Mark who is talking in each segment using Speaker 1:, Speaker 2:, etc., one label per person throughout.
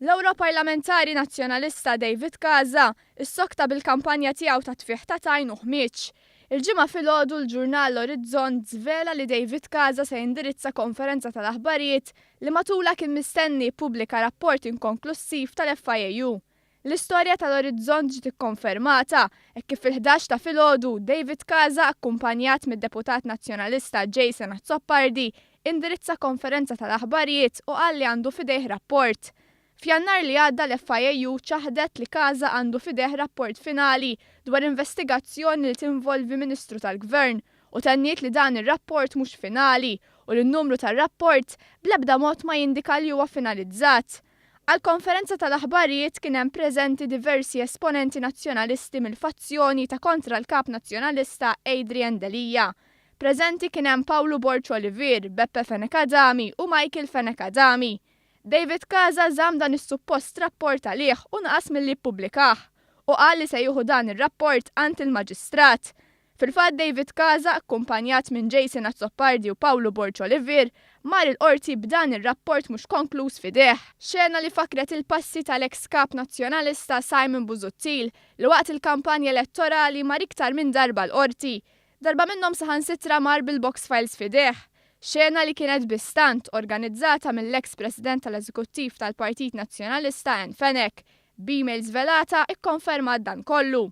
Speaker 1: L-Ewro Parlamentari Nazzjonalista David Kaza issokta bil-kampanja tiegħu ta' tfigħ ta' tajn u ħmieġ. Il-ġimgħa filgħodu l-ġurnal Orizzont żvela li David Kaza se jindirizza konferenza tal-aħbarijiet li matulha kien mistenni jippubblika rapport inkonklussiv tal-FIAU. L-istorja tal-Orizzont ġiet ikkonfermata hekk kif fil-ħdax ta' filgħodu, David Casa akkumpanjat mid-Deputat Nazzjonalista Jason Azzopardi indirizza konferenza tal-aħbarijiet u qal li għandu f'idejh rapport. F'Jannar li għadda l-FIAU ċaħdet li Casa għandu f'idejh rapport finali dwar investigazzjoni li tinvolvi Ministru tal-Gvern u tenniet li dan ir-rapport mhux finali u li n-numru tar-rapport bl-ebda mod ma jindika li huwa finalizzat. Għall-konferenza tal-aħbarijiet kien hemm preżenti diversi esponenti Nazzjonalisti mill-fazzjoni ta' kontra l-Kap Nazzjonalista Adrian Delia. Preżenti kien hemm Pawlu Borg Olivier, Beppe Fenech Adami u Michael Fenech Adami. David Casa żamm dan is-suppost rapport għalih u naqas milli jippubblikah u qal li se jieħu dan ir-rapport għand il-Maġistrat. Fil-fatt David Casa, akkumpanjat minn Jason Azzopardi u Pawlu Borg Olivier, mar il-Qorti b'dan ir-rapport mhux konkluż f'idejh. Xena li fakkret il-passi tal-eks Kap Nazzjonalista Simon Busuttil li waqt il-kampanja elettorali mar iktar minn darba l-Qorti. Darba minnhom saħansitra mar bil-box files f'idejh. Xena li kienet bi stant organizzata mill-eks President tal-Eżekuttiv tal-Partit Nazzjonalista Anne Fenech. B'email żvelata, ikkonfermat dan kollu.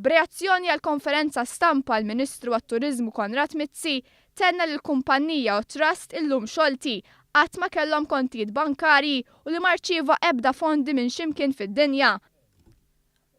Speaker 1: B'reazzjoni għall-konferenza stampa l-Ministru għat-Turiżmu Konrad Mizzi tenna li l-kumpannija u t-trust illum xolti, qatt ma kellhom kontijiet bankarji u li ma rċieva ebda fondi minn x'imkien fid-dinja.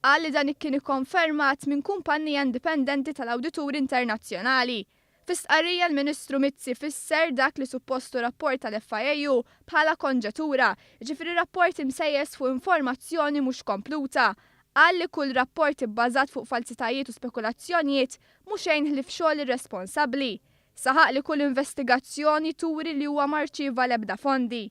Speaker 1: Qal li dan kien ikkonfermat minn kumpannija indipendenti tal-awdituri internazzjonali Fi stqarrija l-Ministru Mizzi fisser dak li suppost hu rapport tal-FIAU bħala konġetura, jiġifieri rapport imsejjes fuq informazzjoni mhux kompluta. Qal li kull rapport ibbażat fuq falzitajiet u spekulazzjonijiet mhu xejn ħlief xogħol irresponsabbli. Saħaq li kull investigazzjoni turi li huwa ma rċieva l-ebda fondi.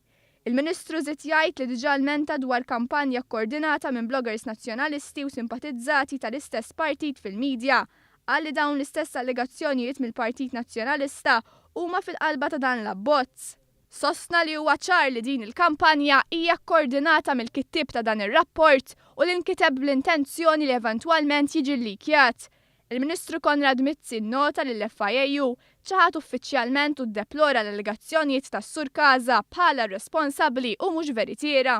Speaker 1: Il-Ministru żied jgħid li diġà lmenta dwar kampanja kkordinata minn bloggers Nazzjonalisti u simpatizzati tal-istess partit fil-media. Qal li dawn l-istess allegazzjonijiet mill-Partit Nazzjonalista huma fil-qalba ta' dan l-abbozz. Sostna li huwa ċar li din il-kampanja hija kkordinata mill-kittieb ta' dan ir-rapport u li nkiteb bl-intenzjoni li eventwalment jiġi llikjat. Il-Ministru Konrad Mizzi nnota li l-FIAU ċaħad uffiċjalment u ddeplora l-allegazzjonijiet tas-Sur Casa bħala r-responsabbli u mhux veritiera.